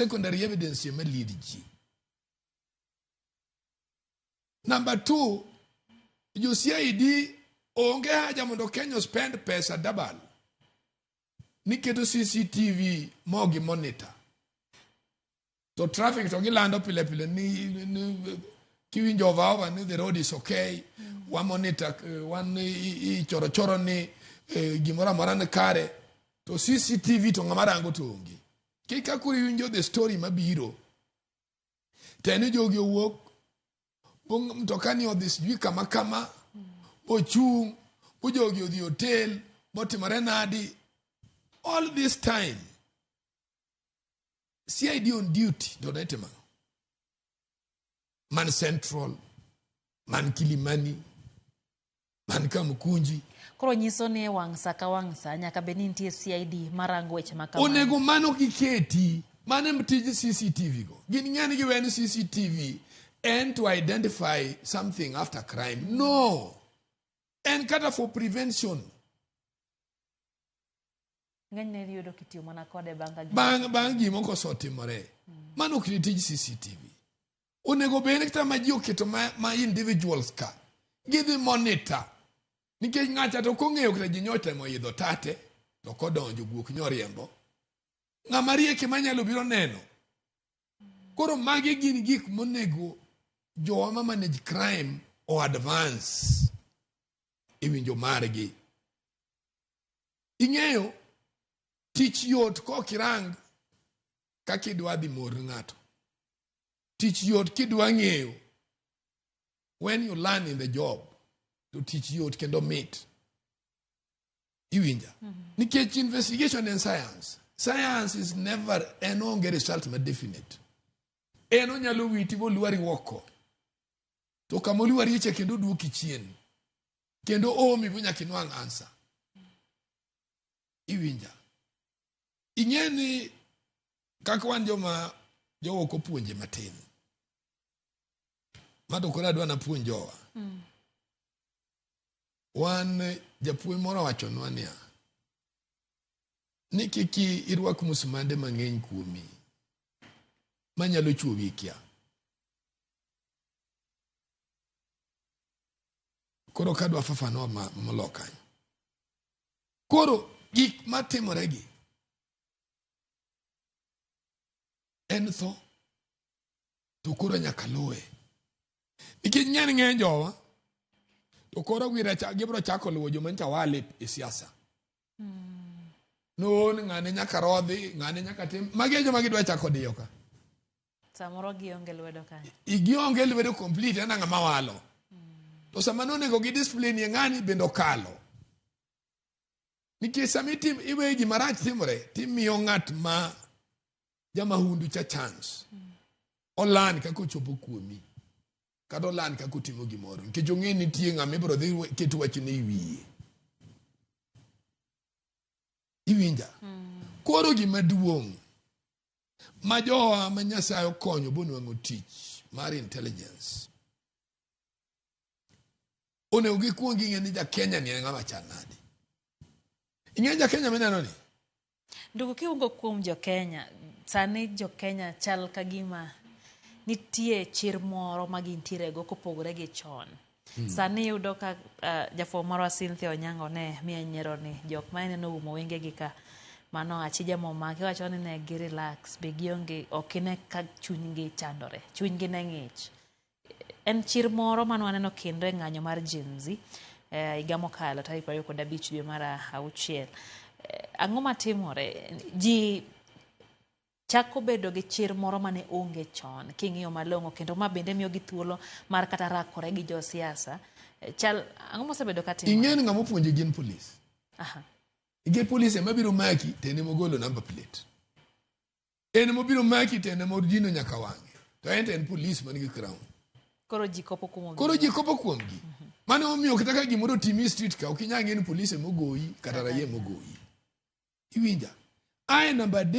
Secondary evidence ema lead ji. Number two, jo CID onge haja mondo Kenya spend pesa dabal niketo CCTV mogi monitor to traffic to gilando pile pile ni, ni kiwinjo ovaova ni the road is okay mm. wamonita eh, wan ichorochoro ni eh, gimoro amora ni kare to cctv to ng'ama rango to onge Kika kuri winjo the story mabiro. Teni jogi owuok bong mtoka ni odhi sijui kama kama bochung bojogi odhi hotel botimore nadi all this time CID on duty to ne timano man central man kilimani man ka Mkunji. Koro nyiso ni wang' sa ka wang' sa nyaka bed ni nitie CID marango weche ma kamano. Onego mano giketi, mano em tij CCTV go. Gin ng'eni giwe ni CCTV en to identify something after crime. No! En kata for prevention. Ng'enyne idhi yudo kitiyo mana kode bang' ka gima- Bang' bang' gimoko osetimore. Mano ok ni tij CCTV. onego bed ni kata ma ji oketo ma, ma individuals ka gidhi monitor nikech ng'acha to kong'eyo kata ji nyotemo idho tate to kodonjo guok nyoriembo ng'ama rieke manyalo biro neno koro magi gin gik monego jowa ma manage crime o advance e winjo margi ing'eyo tich yot kokirang kaka idwa dhi mor ng'ato Tich yot kidwa ng'eyo. When you learn in the job, to tich yot kendo mit. Iwinja. Mm -hmm. Nikech investigation in science, science is never en onge result ma definite. En onyalo witi molwari woko. To kama olwari eche kendo duoki chien. Kendo omi bo nyaka inwang' ansa. Iwinja. ing'e ni kaka wan joma jowa ok opuonje matin ma to koro adwa napuonj jowa mm. wan japuonj moro wachonwa niya ni kik irwak musumande mang'eny kuomi manyalo chuowi kia koro kadwa fafanua molokany Koro gik matimoregi en tho, to koro nyaka luwe nikech ng'eny ng'eny jowa to koro gibiro chako luwo joma ncha wale e siasa noon ng'ane nyaka rodhi ng'ane nyaka tim magi e joma gidwa chako diyo ka Samoro gionge lwedo kanyo. Gionge lwedo complete ana ng'ama walo. To sama nonego gi discipline ye ng'ani bende okalo. Nikech sama itim iwe gima rach timore timiyo ng'at ma jamahundu cha chance. Olan kaka ochopo kuomi. Kata olan kaka otimo gimoro. Nikech ong'e nitie ng'ama ibiro dhi ket wach ne iwiye. Iwinja. Mm. Koro gima duong' ma jowa ma nyasaye okonyo bonwang'o tich mar intelligence onego gikwong ging'e ni jakenya ni en ng'ama chal nadi ing'e jakenya mineno ni ndugu kiwugo kuom jokenya sani jokenya chal ka gima nitie chir moro ma gintiere go kopogore gi chon Hmm. Sani iyudo ka uh, jafuo marwa Cynthia Onyango ne miya nyiero ni jok ma ineno oumo wengegi ka mano achija momaki wacho ni ne gi relax be gionge ok ine ka chunygi chandore chunygi ne ng'ich en chir moro mane waneno kendo e ng'anyo mar Gen Z eh, higa mokalo tarik prariyo kod abich dwe mar auchiel eh, ang'o matimore ji Chako bedo gi chir moro ma ne onge chon king'iyo malong'o kendo ma bende miyogi thuolo mar kata rakore gi jo siasa. Eh, Chal ang'o mosebedo ka timore? Ing'eyo ni ng'ama opuonjo gin polis. Aha. Ige polis ema biro maki to en ema ogolo number plate. En ema obiro maki to en ema odino nyaka wang'e. To en to en polis man gi crown. Koro ji kopo kuom Koro ji kopo kuomgi. Mane omiyo kata ka gimoro otimi e street ka ok inyal ng'e ni polis ema ogoyi kata raia ema ogoyi. Iwinja? Ae namba adek